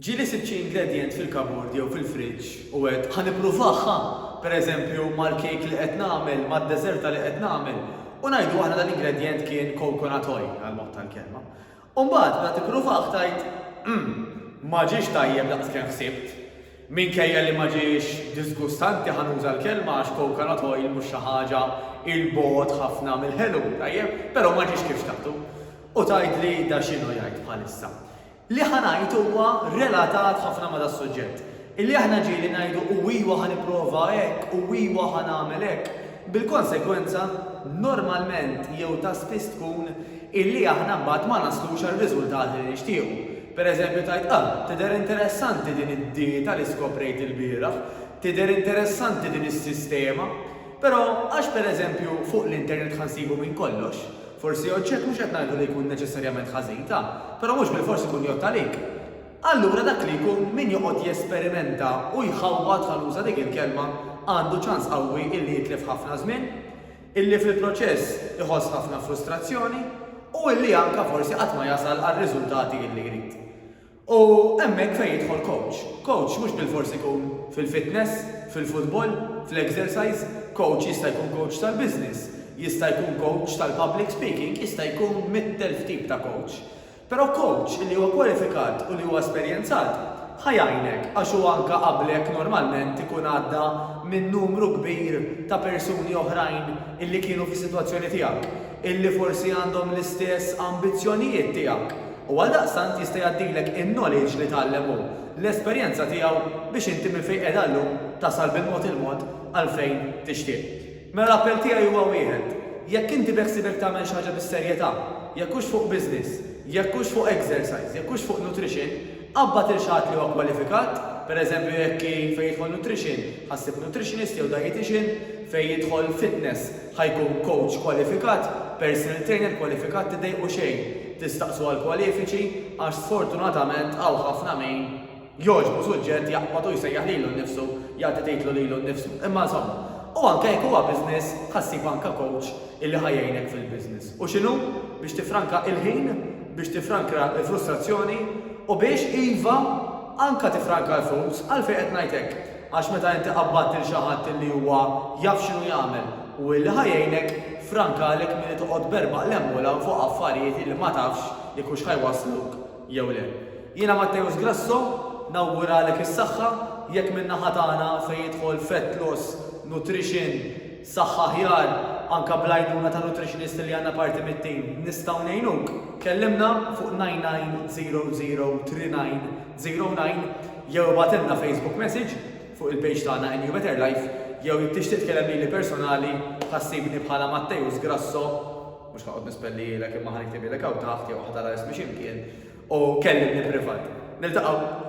Ġieli sibt xi ingredjent fil-kabord jew fil-friġġ u għedt, 'Ħa nippruvah, ħa! Per eżempju, mal-kejk li qed nagħmel, mad-deżerta li qed nagħmel. U ngħidu aħna dal-ingredjent kien coconut oil, għall-mod tal-kelma. U mbagħad, meta tippruvah, tgħid, 'Umm, ma ġiex tajjeb daqs kemm ħsibt. Minkejja li ma ġiex diżgustanti, ħa nuża l-kelma għax coconut oil mhux xi ħaġa 'il bogħod ħafna mill-ħelu, tajjeb, però ma ġiex kif xtaqtu. U tgħidli da x'inhu jgħid bħalissa. Li ħa ngħid huwa relatat ħafna ma' das-suġġett. Illi aħna ġieli ngħidu u ijwa ħa nipprova hekk u ijwa ħa nagħmel hekk, bil-konsegwenza normalment jew ta' spiss tkun illi aħna mbagħad ma naslux għar-riżultati li nixtiequ. Per eżempju tgħid ah, tidher interessanti din id-dieta li skoprejt ilbieraħ, tidher interessanti din is-sistema, però għax per eżempju fuq l-internet ħa nsibu minn kollox, Forsi oġġett mhux qed ngħidu li jkun neċessarjament ħażin ta', però mhux bilfors ikun jgħodd għalik. Allura dak li jkun min joqgħod jesperimenta u jħawwad ħa nuża dik il-kelma għandu ċans qawwi illi jitlef ħafna żmien, illi fil-proċess iħoss ħafna frustrazzjoni u illi anka forsi qatt ma jasal għar-riżultati illi jrid. U hemmhekk fejn jidħol coach. Coach mhux bilfors ikun fil-fitness, fil-futbol, fl-exercise, coach jista' jkun coach tal-business, jista' jkun coach tal-public speaking, jista' jkun mitt elf tip ta' coach. Però coach li huwa kwalifikat u li huwa esperjenzat ħa jgħinek għax hu anke qablek normalment ikun għadda minn numru kbir ta' persuni oħrajn illi kienu fis-sitwazzjoni tiegħek, illi forsi għandhom l-istess ambizzjonijiet tiegħek. U għaldaqstant jista' jgħaddilek in-knowledge li tgħallem hu, l-esperjenza tiegħu biex inti minn fejn qiegħda llum tasal bil-mod il-mod għal fejn tixtieq. Mela l-appell tiegħi huwa wieħed, jekk inti beħsiebek tagħmel xi ħaġa bis-serjetà, jekk hux fuq business, jekk hux fuq exercise, jekk hux fuq nutrition, qabbad 'il xi ħadd li huwa kwalifikat, per eżempju jekk hi fejn jidħol nutrition, ħassib nutritionist jew dietician, fejn jidħol fitness, Ħa jkun kowċ kwalifikat, personal trainer kwalifikat tiddejqu xejn tistaqsu għall-kwalifiċi għax sfortunatament hawn ħafna min jogħġbu suġġett jaqbad u jsejjaħ lilu nnifsu jagħti titlu lilu nnifsu. Imma insomma, u anke jekk huwa business ħa ssib anke kowċ illi ħa jgħinek fil-business. U x'inhu? Biex tiffranka il-ħin, biex tiffrankra l-frustrazzjoni u biex, iva, anke tiffranka l-flus. Għalfejn qed ngħid hekk? Għax meta inti qabbadt lil xi ħadd illi huwa jaf x'inhu jagħmel u illi ħa jgħinek, frankalek milli toqgħod b'erbgħa qlemmulan fuq affarijiet illi ma tafx jekk hux ħa jwassluk jew le. Jiena Matteus Grasso nawguralek is-saħħa, jekk min-naħa tagħna fejn jidħol fett loss, nutrition, saħħa aħjar, anke bl-għajnuna ta' nutritionist li għandna parti mit-tim, nistgħu ngħinuk, kellimna fuq 990039. 0-9 jew ibgħatilna Facebook message fuq il-page tagħna NU Better Life jew jekk tixtieq tkellem lili personali ħa ssibni bħala Matteus Grasso, mhux ħanoqgħod nispellihielek imma ħa niktibielek hawn taħt jew ħa tara ismi xi mkien, u kellimni privat. Niltaqgħu!